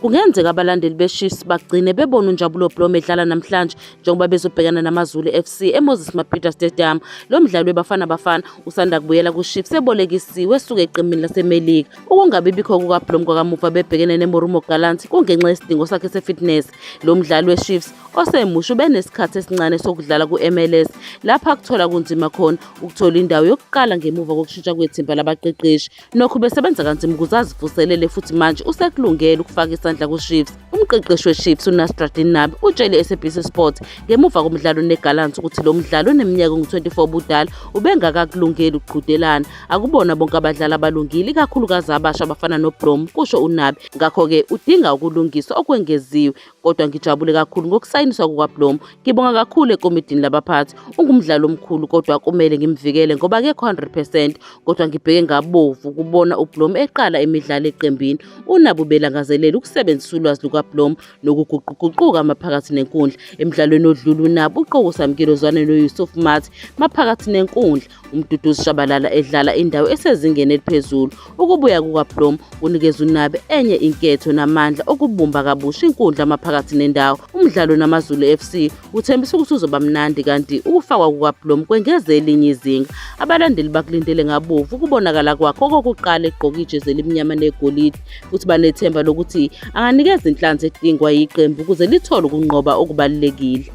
Kungenzeka abalandeli beChiefs bagcine bebona uNjabulo Blom edlala namhlanje njengoba bezobhekana naMaZulu FC eMoses Mabhida Stadium. Lo mdlali weBafana Bafana usanda kubuyela kuChiefs ebolekisiwe esuka eqemini laseMelika. Ukungabi bikho kukaBlom kwakamuva bebhekene neMorumo Gallants kungenxa yesidingo sakhe sefitness. Lo mdlali weChiefs osemusha ubenesikhathi esincane sokudlala ku-MLS lapho akuthola kunzima khona ukuthola indawo yokuqala ngemuva kokushintsha kwethimba labaqeqeshi. Nokho ubesebenza kanzima ukuze azivuselele futhi manje usekulungele ukufaka isandla kuChiefs. Umqeqeshi weChiefs uNasruddin Nabi utshele iSABC Sport ngemuva komdlalo neGallants ukuthi lo mdlali oneminyaka engu-24 ubudala ubengakakulungeli ukuqhudelana. Akubona bonke abadlali abalungile ikakhulukazi abasha abafana noBrom, kusho uNabi. Ngakho-ke udinga ukulungiswa okwengeziwe. kodwa ngijabule kakhulu ngokusayiniswa kukaBlom. Ngibonga kakhulu ekomidini labaphathi. Ungumdlali omkhulu kodwa kumele ngimvikele ngoba akekho 100% kodwa ngibheke ngabovu kubona uBlom eqala imidlalo eqembini. Unabo belangazelela ukusebenzisa ulwazi lukaBlom nokuguquguquka maphakathi nenkundla. Emdlalweni odlule unabo uqokusamkile ozwane noYusuf Mathi maphakathi nenkundla. uMduduzi Shabalala edlala indawo esezingeni eliphezulu ukubuya kukaBlom kunikeza uNabe enye inketho namandla okubumba kabusha inkundla maphakathi nendawo umdlalo namaZulu FC uthembisa ukuthi uzoba mnandi kanti ukufakwa kukaBlom kwengeze elinye izinga abalandeli bakulindele ngabovu ukubonakala kwakhe okokuqala egqoke ijezi elimnyama negolide futhi banethemba lokuthi anganikeza inhlanzi edingwa yiqembu ukuze lithole ukunqoba okubalulekile